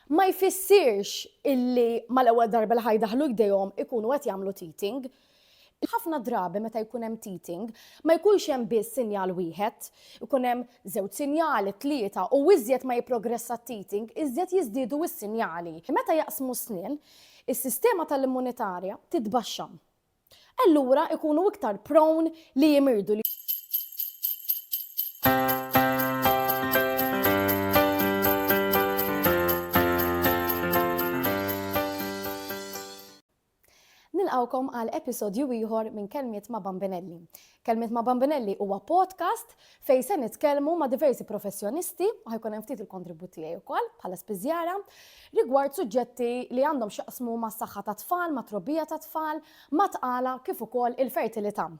ma jfissirx illi mal-ewwel darba li ħa jdaħħlu jdejhom ikunu qed jagħmlu teething. Ħafna drabi meta jkun hemm teething, ma jkunx hemm biss sinjal wieħed, ikun hemm żewġ sinjali, tlieta, u iżjed ma jipprogressa t-teething, iżjed jiżdiedu s-sinjali. Meta jaqsmu s-snien, is-sistema tal-immunitarja titbaxxa. allura ikunu iktar prone li jimirdu li nilqawkom għal episodju ieħor minn Kelmiet ma' Bambinelli. Kelmiet ma' Bambinelli huwa podcast fejn se nitkellmu ma' diversi professjonisti, u ħajkun hemm ftit il-kontribut tiegħi wkoll bħala spiżjara, rigward suġġetti li għandhom x'jaqsmu mas-saħħa tat-tfal, mat-trobbija tat-tfal, mat-tqala kif ukoll il-fertilità.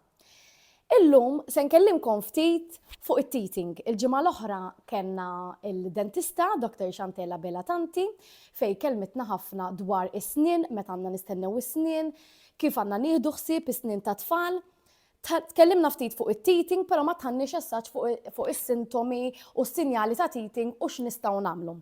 Illum se nkellimkom ftit fuq it-teething. Il-ġimgħa l-oħra kellna il-dentista Dr. Xantella Bela Tanti fej kelmitna ħafna dwar is-snien, meta għandna nistennew is-snien, kif għandna nieħdu ħsieb is-snien tat-tfal. Tkellimna ftit fuq it-teething, però ma tħanniex assaġġ fuq is-sintomi u s-sinjali ta' teething u x'nistgħu nagħmlu.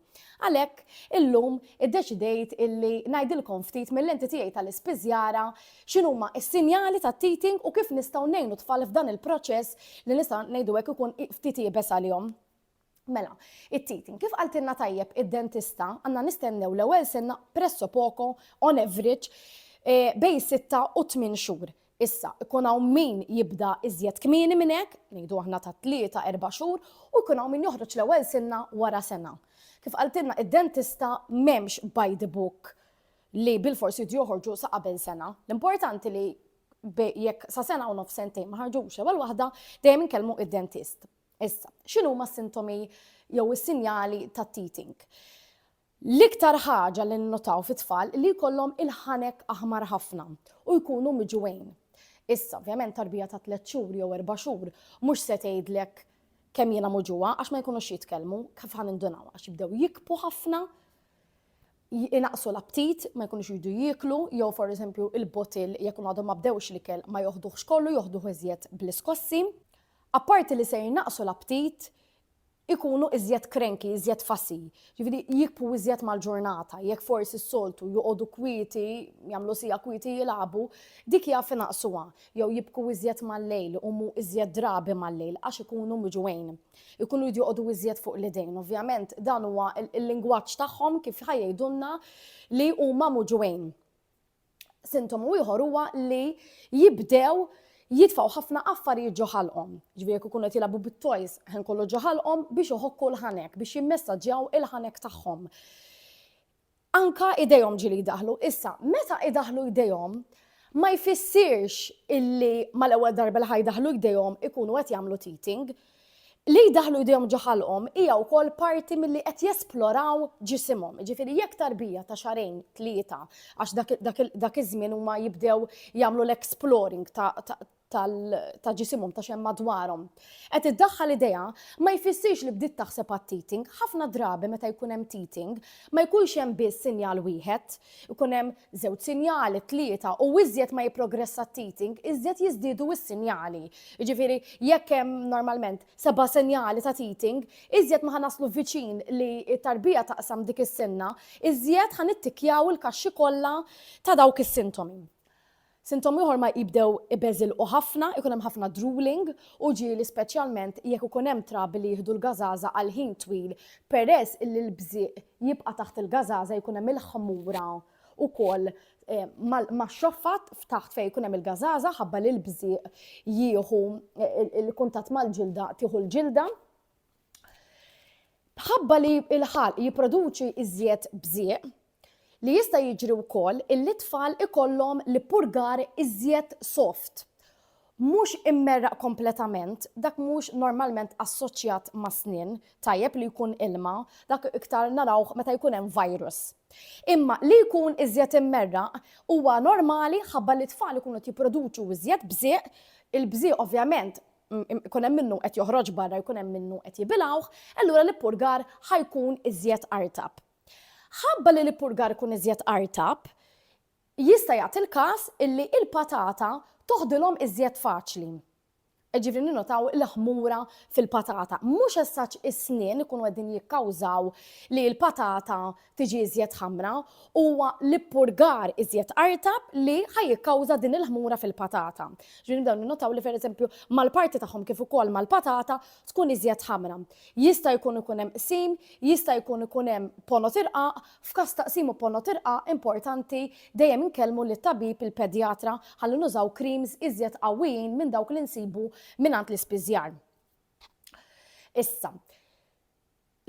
Għalhekk, illum iddeċidejt illi ngħidilkom ftit mil-lenti tiegħi tal-ispiżjara x'inhuma s-sinjali tat-teething u kif nistgħu ngħinu t-tfal f'dan il-proċess li nista' ngħidu hekk ikun ftit iebes għalihom. Mela, it-teething, kif qaltilna tajjeb id-dentista, għandna nistennew l-ewwel senna presso poco on average eh, bej 6 u 8 xhur. Issa, ikun hawn min jibda iżjed kmieni minn hekk, ngħidu aħna ta' tlieta erba' xhur, u jkun hawn min joħroġ l-ewwel sinna wara sena. Kif qaltilna id-dentista m'hemmx by the book li bil-forsi joħorġu sa qabel sena. L-importanti li jekk sa sena u nof sentejn ma ħarġux ewwel waħda, dejjem inkellmu id-dentist. Issa, x'inhuma s-sintomi jew is-sinjali tat-teething? L-iktar ħaġa li nnotaw fit-tfal li jkollhom il-ħanek aħmar ħafna u jkunu miġugħin. Issa, ovvjament tarbija ta' tliet xhur jew erba' xhur mhux se tgħidlek kemm jiena muġugħa għax ma jkunux jitkellmu kif ħa nindunaw għax jibdew jikbu ħafna, inaqsu l-aptit, ma jkunux jridu jieklu, jew for eżempju il-botil jekk għadhom ma bdewx l-ikel ma joħduhx kollu, joħduh iżjed bl-iskossi. Apparti li se jnaqqsu l-aptit, ikunu iżjed cranky, iżjed fussy. Jiġifieri jikbu iżjed mal-ġurnata. Jekk forsi s-soltu joqogħdu kwieti, jagħmlu siegħa kwieti jilagħbu, dik jaf inaqqsuha. Jew jibku iżjed mal-lejl, iqumu iżjed drabi mal-lejl għax ikunu miġugħin. Ikunu jridu joqogħdu iżjed fuq l-idejn. Ovvjament dan huwa l-lingwaġġ tagħhom kif ħa jgħidulna li huma muġugħin. Sintomu ieħor huwa li jibdew jitfaw ħafna affarijiet ġoħalqom. Ġviri jekk ikunu qed jilagħbu bit-toys ħin kollu ġoħalqom biex iħokku l-ħanek, biex jimmessaġġjaw il-ħanek tagħhom. Anka idejhom ġili jdaħlu. Issa, meta idaħlu idejhom, ma jfissirx illi mal-ewwel darba li ħajdaħlu jdejhom ikunu qed jagħmlu teething, Li jdaħħlu jdejhom ġo ħalqhom hija wkoll parti milli qed jesploraw ġisimhom. Jiġifieri jekk tarbija ta' xahrejn, tlieta, għax dak iż-żmien huma jibdew jagħmlu l-exploring ta' ġisimhom, ta' x'hemm madwarhom, qed iddaħħal idejha, ma jfissirx li bdiet taħseb għat-teething. Ħafna drabi meta jkun hemm teething, ma jkunx hemm biss sinjal wieħed. Ikun hemm żewġ sinjali, tlieta, u iżjed ma jipprogressa t-teething, iżjed jiżdiedu s-sinjali. Jiġifieri jekk hemm normalment seba' sinjali ta' teething, iżjed ma ħa naslu viċin li t-tarbija taqsam dik is-sinna, iżjed ħa nittikkjaw il-kaxxi kollha ta' dawk is-sintomi. Sintomi oħra jibdew ibeżilqu ħafna, ikun hemm ħafna drooling u ġieli speċjalment jekk ikun hemm trabi li jieħdu l-gażaża għal ħin twil peress illi l-bżieq jibqa' taħt il-gażaża jkun hemm il-ħmura wkoll max-xoffat f'taħt fejn jkun hemm il-gażaża ħabba li l-bżieq jieħu il-kuntatt mal-ġilda tieħu l-ġilda. Bħabba li l-ħalq jipproduċi iżjed bżieq, li jista' jiġri wkoll illi t-tfal ikollhom l-ippurgar iżjed soft, mhux immerraq kompletament, dak mhux normalment assoċjat mas-snien, tajjeb li jkun ilma, dak iktar narawh meta jkun hemm virus. Imma li jkun iżjed immerraq huwa normali ħabba li t-tfal ikunu qed jipproduċu iżjed bżieq, il-bżieq ovvjament jkun hemm minnu qed joħroġ barra jkun hemm minnu qed jibilgħuh, allura l-ippurgar ħajkun iżjed artab. Ħabba li l-ippurgar ikun iżjed artab, jista' jagħti l-każ illi il-patata toħdilhom iżjed faċli. Ġifri ninotaw l-ħmura fil-patata. Mhux essaċ is-snien ikunu qegħdin jikkawżaw li l-patata tiġi iżjed ħamra, huwa l-ippurgar iżjed qartab li ħa jikkawża din il-ħmura fil-patata. Ġifieri nibdew ninnotaw li pereżempju mal-parti tagħhom kif ukoll mal-patata tkun iżjed ħamra. Jista' jkun ikun hemm qsim, jista' jkun ikun hemm ponot irqaq, f'każ ta' qsim u ponot irqaq importanti dejjem inkellmu lit-tabib, il-pedjatra, ħalli nużaw creams iżjed qawwijin minn dawk li nsibu mingħand l-ispiżjar. Issa,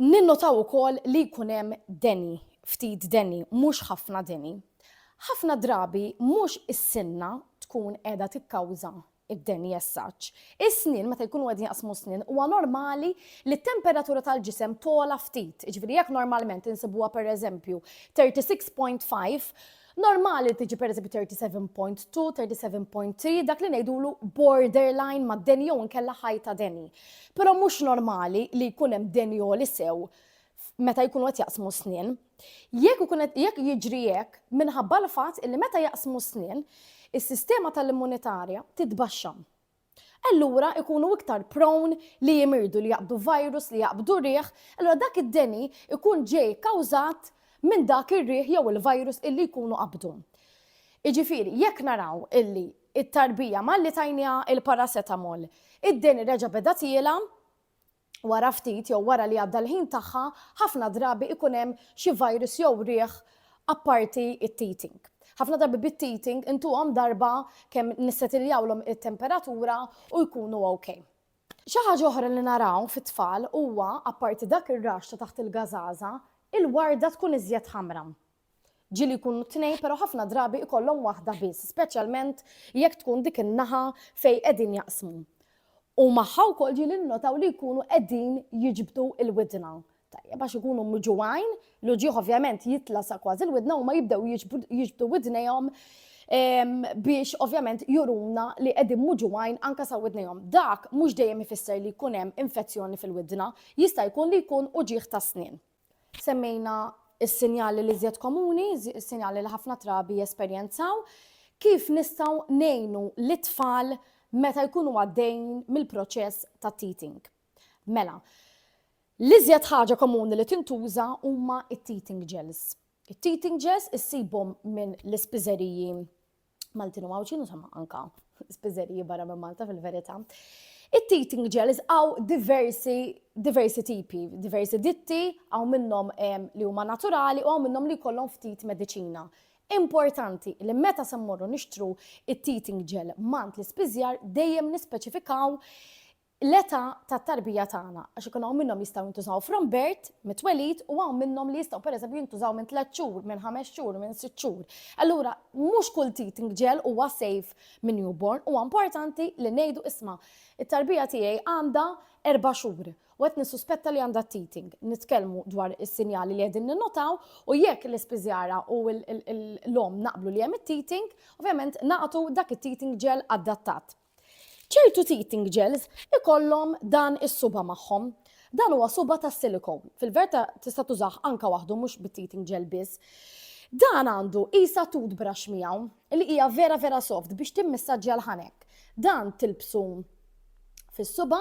Ninnotaw ukoll li jkun hemm deni, ftit deni, mhux ħafna deni. Ħafna drabi mhux is-sinna tkun qiegħda tikkawża d-deni as such. Is-snien, meta jkunu qegħdin jaqsmu s-snien, huwa normali li t-temperatura tal-ġisem togħla ftit. Jiġifieri jekk normalment insibuha pereżempju 36.5, Normali li tiġi pereżempju 37.2, 37.3, dak li ngħidulu borderline ma' deni jew inkella ħajta deni. Però mhux normali li jkun hemm deni għoli sew meta jkunu qed jaqsmu snien. Jekk ikun qed jekk jiġri hekk minħabba l-fatt illi meta jaqsmu snien, is-sistema tal-immunitarja titbaxxa. allura ikunu iktar prone li jimirdu, li jaqbdu virus, li jaqbdu riħ, allura dak id-deni ikun ġej kawżat minn dak ir-riħ jew il-virus illi jkunu qabdu. Jiġifieri, jekk naraw illi t-tarbija malli tajniha l-paracetamol, id-deni reġa' beda tiela', wara ftit jew wara li għadda l-ħin tagħha, ħafna drabi ikun hemm xi virus jew riħ apparti t-teething. Ħafna drabi bit-teething intuhom darba kemm nissetilljawlhom it-temperatura u jkunu ok. Xi ħaġa oħra li naraw fit-tfal huwa, apparti dak ir-raxx ta' taħt il-gażaża, il-warda tkun iżjed ħamra. ġieli jkunu tnejn pero ħafna drabi ikollhom waħda biss, speċjalment jekk tkun dik in-naħa fejn qegħdin jaqsmu. U magħha wkoll ġieli nnotaw li jkunu qegħdin jiġbdu l-widna. Tajjeb għax ikunu miġuwajn, l-uġieħ ovvjament jitla sa kważi l-widna u ma jibdew jiġbdu widnejhom biex ovvjament juruna li qegħdin muġuwajn anka sa widnejhom. Dak mhux dejjem ifisser li jkun hemm infezzjoni fil-widna, jista' jkun li jkun uġieħ ta' snin. Semmejna s-sinjali l-iżjed komuni, s-sinjali li ħafna trabi jesperjenzaw, kif nistgħu ngħinu lit-tfal meta jkunu għaddejn mill-proċess ta' teething. Mela, l-iżjed ħaġa komuni li tintuża huma t-teething gels. It-teething gels issibhom minn l-ispiżeriji Maltin u Maltin, insomma, anka spizzeriji barra minn Malta fil-verità. It-teething gels għaw diversi, diversi tipi, diversi ditti, għaw minnom li huma naturali u għaw minnom li kollom ftit medicina. Importanti li meta semmorru nixtru it-teething gel mant l-ispizjar dejjem nispeċifikaw l-età tat-tarbija tagħna, għax ikun hawn minnhom li jistgħu jintużaw from birth, mit-twelid, u hawn minnhom li jistgħu pereżempju jintużaw minn tliet xhur, minn ħames xhur, minn sitt xhur. Allura, mhux kull teething gel huwa safe minn newborn, huwa importanti li ngħidu isma', it-tarbija tiegħi għandha erba' xhur u qed nissuspetta li għandha t-teething. Nitkellmu dwar is-sinjali li qegħdin ninnotaw u jekk l-ispiżjara u l-omm naqblu li hemm it-teething, ovvjament nagħtu dak it-teething gel adattat. Ċertu teething gels ikollhom dan is-suba magħhom. Dan huwa suba ta' silicone. Fil-verta tista' tużah anka waħdu mhux bit-teething gel biss. Dan għandu isa toothbrush miegħu li hija vera vera soft biex timmissaġġja l-ħanek. Dan tilbsu fis-suba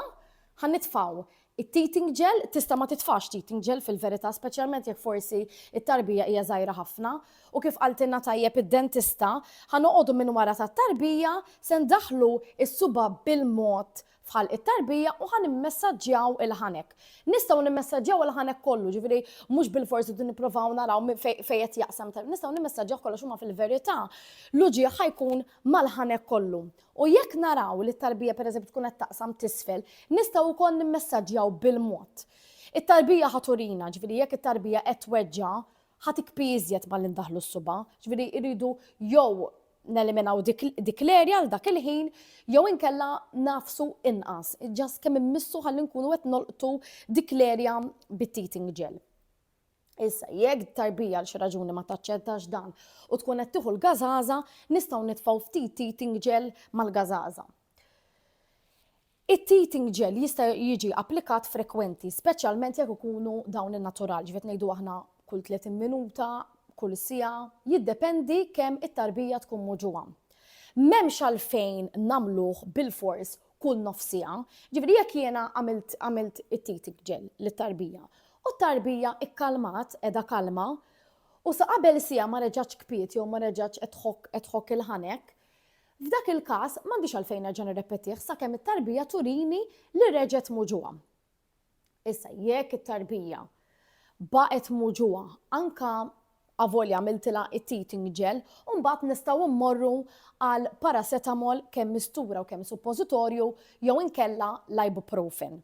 ħan nitfgħu It-teething gel, tista' ma titfax teething gel fil-verità speċjalment jekk forsi t-tarbija hija żgħira ħafna u kif qaltilna tajjeb id-dentista, ħa noqogħdu minn wara tat-tarbija, se ndaħħlu s-subgħa bil-mod f'ħalq it-tarbija u ħa nimmessaġġjaw il-ħanek. Nistgħu nimmessaġġjaw il-ħanek kollu, ġifieri mhux bilfors irridu nipprovaw naraw fejn qed jaqsam, nistgħu nimmessaġġjaw kollox imma fil-verità l-uġigħ ħa jkun mal-ħanek kollu. U jekk naraw li t-tarbija pereżempju tkun qed taqsam t'isfel, nistgħu wkoll nimmessaġġjaw bil-mod. It-tarbija ħa turina, ġifieri jekk it-tarbija qed tweġġa' ħa tikpi iżjed malli ndaħħlu s-suba', ġifieri rridu jew neliminaw dik l-erja għal dak il-ħin jew inkella ngħafsu inqas, just kemm immissu ħalli nkunu qed nolqtu dik l-erja bit-teething gel. Issa, jekk tarbija għal xi raġuni ma taċċettax dan u tkun qed tieħu l-gażaża, nistgħu nitfgħu ftit teething gel mal-gażaża. It-teething gel jista' jiġi applikat frekwenti, speċjalment jekk ikunu dawn in-natural, ġifiet ngħidu aħna kull 30 minuta, kull sija, jiddependi kemm it-tarbija tkun muġuha. M'hemmx għalfejn nagħmluh bil-fors kull nofs siegħa. Ġifieri jekk jiena għamilt għamilt it-titik ġel lit-tarbija u t-tarbija kkalmat qiegħda kalma u sa qabel siegħa ma reġgħetx kpiet jew ma reġgħetx qed tħokk qed tħokk il-ħanek, f'dak il-każ m'għandix għalfejn nerġa' nirrepetih sakemm it-tarbija turini li reġgħet muġugħa. Issa, jekk it-tarbija baqgħet muġuha anka avolja għamiltilha it-teething gel, u mbagħad nistgħu mmorru għal paracetamol kemm mistura u kemm suppożitorju jew inkella l-ibuprofen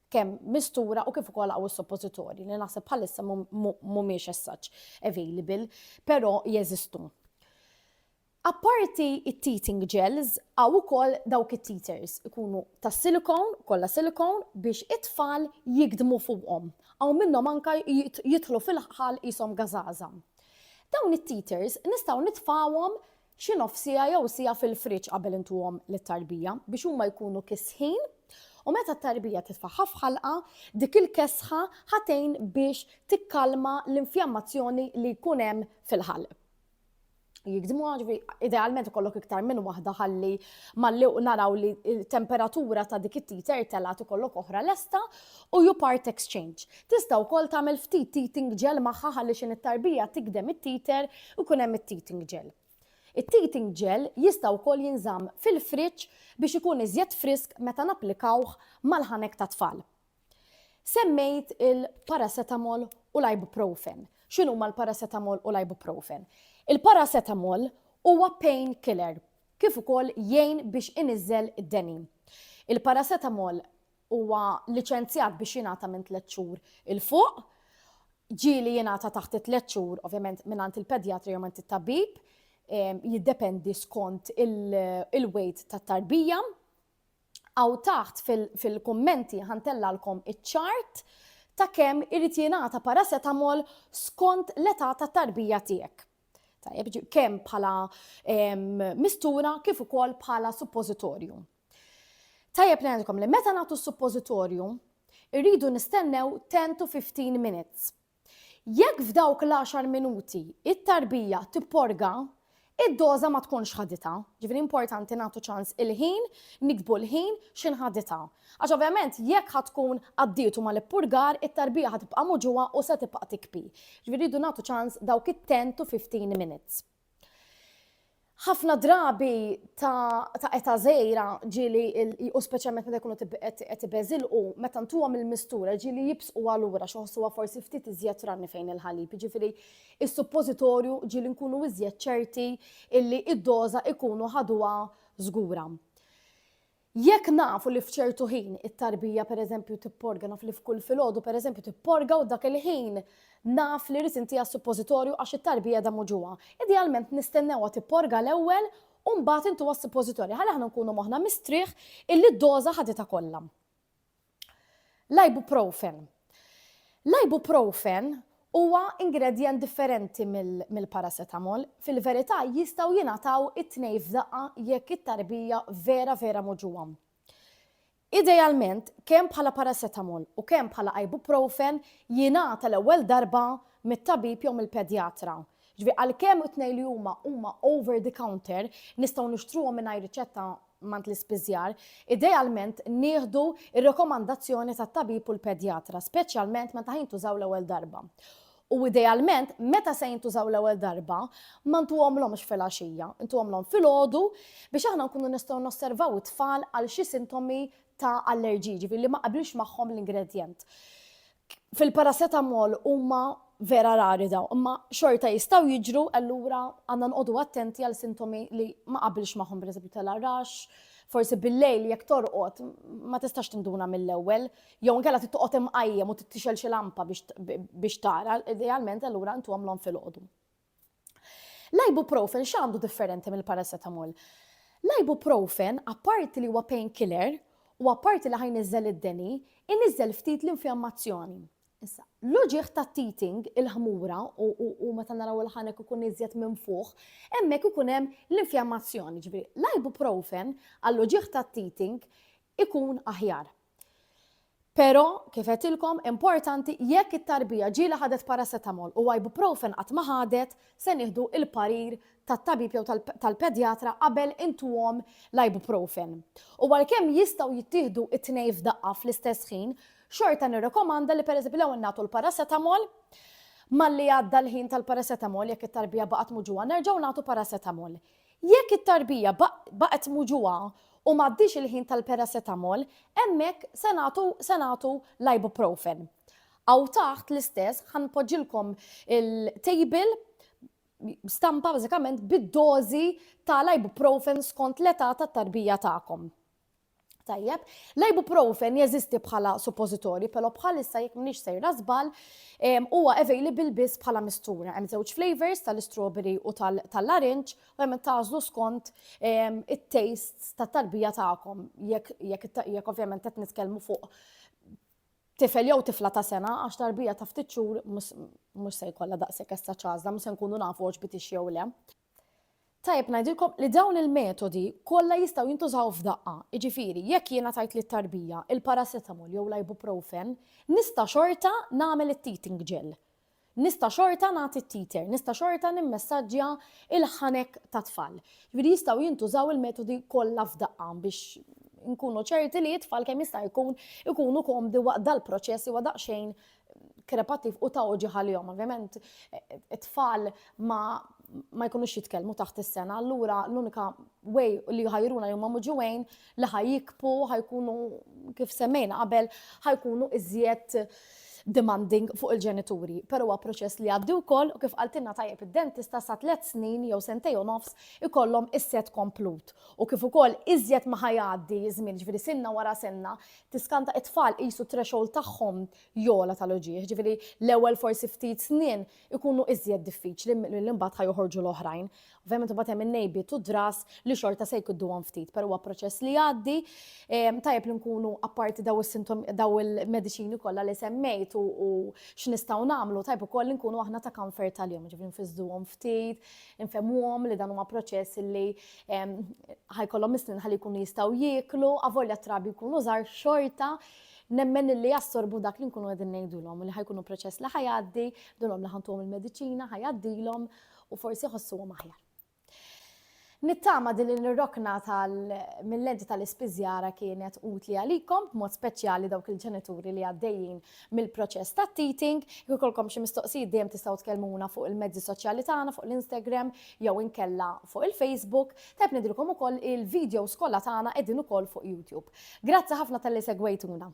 kemm mistura u kif ukoll għaw is-suppożitorji li naħseb bħalissa mhumiex as-such available, però jeżistu. Apparti it-teething gels, hawn ukoll dawk it-teethers, ikunu tas-silikon, kollha silikon, biex it-tfal jigdmu fuqhom. Hawn minnhom anke jidħlu fil-ħħal qishom gażaża. Dawn it-teethers nistgħu nitfgħuhom xi nofs siegħa jew siegħa fil-friġġ qabel intuhom lit-tarbija biex huma jkunu kisħin u meta t-tarbija titfagħha f'ħalqha, dik il-kesħa ħa tgħin biex tikkalma l-infjammazzjoni li jkun hemm fil-ħalq. jikdmu ġvi, idealment ikollok iktar minn waħda ħalli malli u naraw li temperatura ta' dik it-titer telat ikollok oħra lesta u ju part exchange. Tista' wkoll tagħmel ftit teething gel magħha ħalli xin it-tarbija tikdem it-titer u kun hemm it-teething gel. It-teething gel jista' wkoll jinżamm fil-friġġ biex ikun iżjed frisk meta napplikawh mal-ħanek ta' tfal. Semmejt il-paracetamol u l-ibuprofen. X'inhuma l-paracetamol u l-ibuprofen? Il-paracetamol huwa pain killer kif ukoll jgħin biex iniżżel id-deni. Il-paracetamol huwa liċenzjat biex jingħata minn tliet xhur il fuq, ġieli jingħata taħt it-tliet xhur, ovvjament mingħand il-pedjatri jew minn it-tabib, ehm, jiddependi skont il-weight tat-tarbija. Hawn taħt fil-kummenti ħa ntellgħalkom iċ-ċart ta' kemm irid jingħata paracetamol skont l-età ta' tarbija tiegħek. Tajjeb, kemm bħala mistura kif ukoll bħala suppożitorju. Tajjeb ngħidilkom li meta nagħtu suppożitorju, irridu nistennew 10 to 15 minutes. Jekk f'dawk l-għaxar minuti t-tarbija tipporga, id-doża ma tkunx ħaditha. Ġifieri importanti nagħtu ċans il-ħin, niktbu l-ħin x'ħin ħaditha. Għax ovvjament jekk ħa tkun għaddietu mal-ippurgar, it-tarbija ħa tibqa' muġugħa u se tibqa' tikpi. Ġifieri rridu nagħtu ċans dawk it-ten to fifteen minutes. ħafna drabi ta' eta zejra ġili u speċjalment meta jkunu qed ibeżilqu meta ntuhom il-mistura ġili jibsqu għalura xoħsuha forsi ftit iżjed ranni fejn il-ħalib. Ġifieri is-suppożitorju ġili nkunu iżjed ċerti illi id-doża ikunu ħaduha żgura. Jekk nafu li f'ċertu ħin it-tarbija pereżempju tipporga, naf li f'kull filgħodu pereżempju tipporga u dak il-ħin naf li rrid intiha s-suppożitorju għax it-tarbija qiegħda muġugħa. Idealment nistennewha tipporga l-ewwel u mbagħad intuha s-suppożitorju ħalli aħna nkunu moħħna mistrieħ illi d-doża ħaditha kollha. L-ibuprofen. L-ibuprofen huwa ingredjent differenti mill-paracetamol. Fil-verità jistgħu jingħataw it-tnejn f'daqqa jekk it-tarbija vera vera moġugħa. Idealment, kemm bħala paracetamol u kemm bħala ibuprofen jingħata l-ewwel darba mit-tabib jew mill-pedjatra. Ġifieri għalkemm it-tnejn li huma huma over the counter, nistgħu nixtruhom mingħajr riċetta mant l-ispiżjar, idealment nieħdu r-rekomandazzjoni tat-tabib u l-pedjatra, speċjalment meta jintużaw l-ewwel darba. U idealment, meta se jintużaw l-ewwel darba, ma ntuhomlhomx filgħaxija, intuhomlhom filgħodu biex aħna nkunu nistgħu nosservaw it-tfal għal xi sintomi ta' allerġiji, ġifieri li ma qabilx magħhom l-ingredjent. Fil-paracetamol huma vera rari dawn, imma xorta jistgħu jiġru allura għandna nqogħdu attenti għal sintomi li ma qabilx magħhom pereżempju tal-arrax, forsi bil-lejl jekk torqod ma tistax tinduna mill-ewwel, jew inkella trid toqgħod imqajjem u tixgħel xi lampa biex tara, idealment allura ntuhomlhom filgħodu. L-ibuprofen x'għandu differenti mill-paracetamol? L-ibuprofen, apparti li huwa pain killer u apparti li ħa jniżżel id-deni, iniżżel ftit l-infjammazzjoni. Issa, l-uġigħ tat-teething, il-ħmura u meta naraw il-ħanek ikun iżjed minfuħ, hemmhekk ikun hemm l-infjammazzjoni. Ġifieri, l-ibuprofen għall-uġigħ tat-teething ikun aħjar. Pero, kif għetilkom, importanti jekk it-tarbija ġieli ħadet paracetamol u ibuprofen qatt ma ħadet, se nieħdu il-parir tat-tabib jew tal-pedjatra qabel intuhom l-ibuprofen. U għalkemm jistgħu jittieħdu t-tnejn f'daqqa fl-istess ħin, xorta nirrekomanda li pereżempju l-ewwel nagħtu l-paracetamol, malli għadda l-ħin tal-paracetamol jekk it-tarbija baqgħet muġugħa nerġgħu nagħtu paracetamol. Jekk it-tarbija baqgħet muġugħa u m'għaddiex il-ħin tal-paracetamol, hemmhekk se nagħtu se nagħtu l-ibuprofen. Hawn taħt l-istess ħa npoġġilkom il-table stampa bażikament bid-dożi tal-ibuprofen skont l-età tat-tarbija tagħkom. Tajjeb, l-ibuprofen jeżisti bħala suppożitorji, però bħalissa jekk m'iniex sejra żball, ehm, huwa available biss bħala mistura. Hemm żewġ flavors tal-istrawberry u tal-larinġ, u hemm tagħżlu skont ehm, it-tastes tat-tarbija tagħkom. Jekk ovvjament qed nitkellmu fuq tifel jew tifla ta' sena għax tarbija ta' ftit xhur mhux se jkollha daqshekk essa ċażla, mhux se nkunu nafu għax bitix jew le. Tajjeb ngħidilkom li dawn il-metodi kollha jistgħu jintużaw f'daqqa, jiġifieri jekk jiena tajt lit-tarbija il-paracetamol jew l-ibuprofen, nista' xorta nagħmel it-teething gel. Nista' xorta nagħti t-teether, nista' xorta nimmessaġġja l-ħanek tat-tfal. Jiġifieri jistgħu jintużaw il-metodi kollha f'daqqa biex inkunu ċerti li t-tfal kemm jista' jkun ikunu komdi waqt dal-proċess li huwa daqsxejn krepattiv u ta' oġi ħalihom. Ovvjament, it-tfal ma ma jkunux jitkellmu taħt is-sena, allura l-unika way li ħajruna li huma muġuwejn li ħajjikpu, ħajkunu kif semmejna qabel, ħajkunu iżjed demanding fuq il-ġenituri. Però huwa proċess li għaddi wkoll u kif qaltilna tajjeb id-dentista sa tliet snin jew sentej u nofs ikollhom is-set komplut. U kif ukoll iżjed ma ħajgħaddi żmien, ġifieri sinna wara sinna, tiskanta it-tfal qisu t-threshold tagħhom jogħla tal-uġigħ, ġifieri l-ewwel forsi ftit snin ikunu iżjed diffiċli milli mbagħad ħa joħorġu l-oħrajn. Ovvjament imbagħad hemm in-nejbiet u d-dras li xorta se jkudduhom ftit, però huwa proċess li jgħaddi. Ehm, tajjeb li nkunu apparti daw is-sintom daw il-mediċini kollha li semmejt u x'nistgħu nagħmlu, tajjeb ukoll li nkunu aħna ta' comfort tal-jum, ġifieri nfiżduhom ftit, infemuhom li dan huma proċess li ħajkollhom is-snin ħalli jkunu jistgħu jieklu, avolja trabi jkunu żgħar xorta, nemmen li jassorbu dak li nkunu qegħdin ngħidulhom li ħajkunu proċess li ħajgħaddi, dunhom li ħantuhom il-mediċina, ħajgħaddilhom u forsi ħossuhom aħjar. Nittama din il-rokna tal mill-lenti tal-ispiżjara kienet utli għalikom, b'mod speċjali dawk il-ġenituri li għaddejjin mill-proċess ta' teething. Jekk ikollkom xi mistoqsijiet dejjem tistgħu tkellmuna fuq il-mezzi soċjali tagħna, fuq l-Instagram jew inkella fuq il-Facebook. Tajb ngħidilkom ukoll il-videos kollha tagħna qegħdin ukoll fuq YouTube. Grazzi ħafna talli segwejtuna.